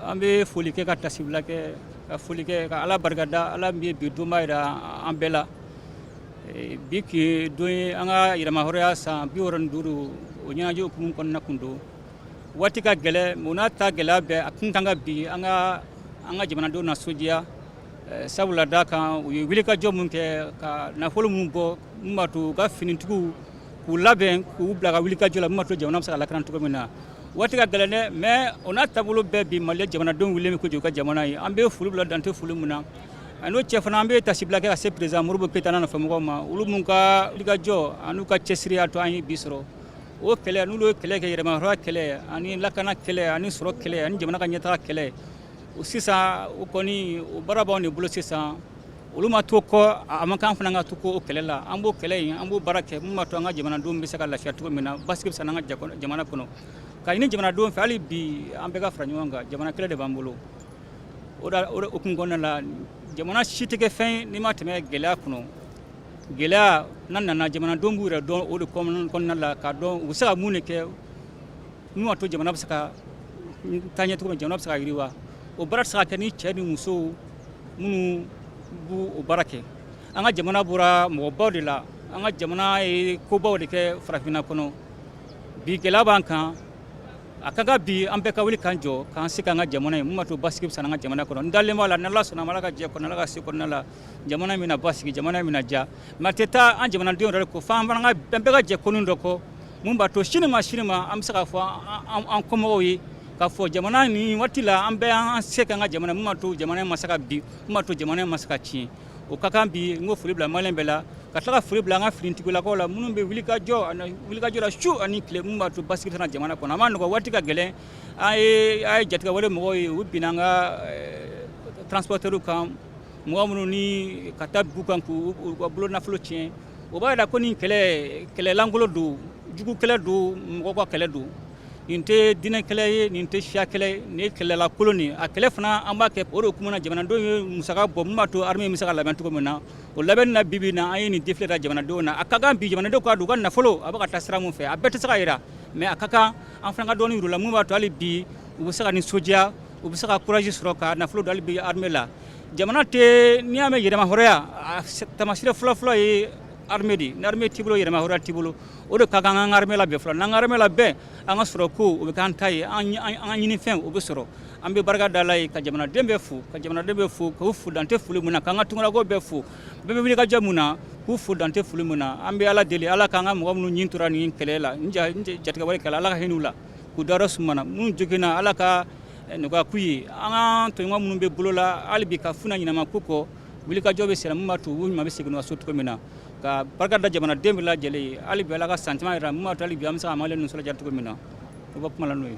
an bɛ foli kɛ ka tasibila kɛ ka foli kɛ ka ala barikada ala min ye bi donba jira an bɛɛ la eh, bi tun ye don ye an ka yɛrɛmahɔrɔnya san bi wɔɔrɔ ni duuru o ɲɛnajɛ hukumu kɔnɔna kun don waati ka gɛlɛn o n'a ta gɛlɛya bɛɛ a kun kan ka bi an ka an ka jamanadenw nisɔndiya eh, sabula da kan u ye wulikajɔ mun kɛ ka nafolo mun bɔ mun b'a to u ka finitigiw k'u labɛn k'u bila ka wulikajɔ la mun b'a to jamana bɛ se ka lakana cogo min na waati ka gɛlɛn dɛ mais o n'a taabolo bɛɛ bi mali jamanadenw wulilen bɛ k'u jɔ u ka jamana ye an bɛ foli bila dan tɛ foli min na an'o cɛ fana an bɛ tasibila kɛ ka se perezidan modibo keyita n'a nɔfɛmɔgɔw ma olu minnu ka wulikajɔ an'u ka cɛsiri y'a to an ye bi sɔrɔ o kɛlɛ n'olu ye kɛlɛ kɛ yɛrɛmahɔrɔnya kɛlɛ ani lakana kɛlɛ ani sɔrɔ kɛlɛ ani jamana ka ɲɛtaga kɛlɛ o sisan o kɔni o baara b'anw de bolo sisan olu ma to kɔ a man kan fana an ka to kɔ o kɛlɛ la an b'o kɛlɛ in an b'o baara kɛ mun b'a to an ka jamanadenw bɛ se ka lafiya cogo min na basigi bɛ se an ka jamana kɔnɔ k'a ɲini jamanadenw fɛ hali bi an bɛɛ ka fara ɲɔgɔn kan jamana kɛlɛ de b'an bolo o da o hukumu kɔnɔna la jamana si tɛ kɛ fɛn n'i ma tɛmɛ gɛlɛya kɔnɔ gɛlɛya n'a nana jamanadenw b'u yɛrɛ dɔn o de kɔnɔna la k'a dɔn u bɛ se ka mun de kɛ mun b'a to jamana bɛ se ka taa ɲɛ cogo min jamana bɛ se ka yiriwa o baara tɛ se ka kɛ ni cɛ ni musow minnu b o baara kɛ an ka jamana bɔra mɔgɔbaw de la an ka jamana ye kobaw de kɛ farafinna kɔnɔ bi gɛlɛya b'an kan a ka kan bi an bɛɛ ka wuli k'an jɔ k'an se kɛ an ka jamana ye min b'a to basigi bɛ se an ka jamana kɔnɔ n dalen b'a la n'ala sɔnn'a ma ala ka jɛ kɔnɔ ala ka se kɔnɔna la jamana bɛna basigi jamana bɛna diya nka a tɛ taa an jamanadenw yɛrɛ kɔ fo an fana bɛɛ ka jɛ ko dɔ kɔ mun b'a to sini ma sini ma an bɛ se k'a fɔ an kɔmɔgɔw ye k'a fɔ jamana nin waati la an bɛɛ an se kɛ an ka jamana min b'a to jamana ma se ka bin min b'a to jamana ma se ka tiɲɛ o ka kan bi n ka foli bila malien bɛɛ la ka tila ka foli bila an ka finitigilakaw la minnu bɛ wulikajɔ ani wulikajɔ la su ani tile min b'a to basigi bɛ na jamana kɔnɔ a ma nɔgɔ waati ka gɛlɛn an ye a ye jatigɛwale mɔgɔw ye u binna an ka transporteurs kan mɔgɔ minnu ni ka taa dugu kan k'u ka bolo nafolo tiɲɛ o b'a jira ko nin kɛlɛ kɛlɛ lankolon don jugu kɛlɛ don mɔgɔ ka kɛlɛ don nin tɛ diinɛ kɛlɛ ye nin tɛ siya kɛlɛ ye nin ye kɛlɛ lankolon ye a kɛlɛ fana an b'a kɛ o de kama na jamanadenw ye musaka bɔ min b'a to armée bɛ se ka labɛn cogo min na o labɛn na bi bi in na an ye nin défilé kɛ jamanadenw na a ka kan bi jamanadenw k'a dɔn u ka nafolo a bɛ ka taa sira min fɛ a bɛɛ tɛ se ka jira mais a ka kan an fana ka dɔ jira u la min b'a to hali bi u bɛ se ka nisɔndiya u bɛ se ka courage sɔrɔ ka nafolo dɔ bila armée la jamana tɛ n'i y'a mɛn yɛrɛmahɔrɔnya taamasiyɛn fɔlɔfɔlɔ ye armée de ye ni armée t'i bolo yɛrɛmahɔrɔnya t'i bolo o de ka kan an ka armée labɛn fɔlɔ n'an ka armée labɛn an ka sɔrɔ ko o bɛ k'an ta ye an ka ɲini fɛn o bɛ sɔrɔ an bɛ barika da Ala ye ka jamanaden bɛɛ fo ka jamanaden bɛɛ fo k'u fo dan tɛ foli min na k'an ka tunkalamɔgɔ bɛɛ fo bɛɛ bɛ wulikajɔ min na k'u fo dan tɛ foli min na an bɛ Ala deli Ala k'an ka mɔgɔ minnu ni tora nin kɛlɛ la nin jatigɛwale kɛlɛ la Ala ka hin'u la k'u dayɔrɔ sumana minnu joginna Ala ka nɔgɔya k'u ye an ka tɔɲɔgɔn minnu bɛ bolo la hali bi k'a f'u ɲɛna ɲina ma k'u kɔ wulikajɔ bɛ senna min b'a to u ɲuman bɛ segin u ka so cogo min na ka barika da jamanaden bɛɛ lajɛlen ye hali bi ala ka san caman yira min b'a to hali bi an bɛ se ka an malen ninnu sɔrɔ diya cogo min na o bɛ kuma la n'o ye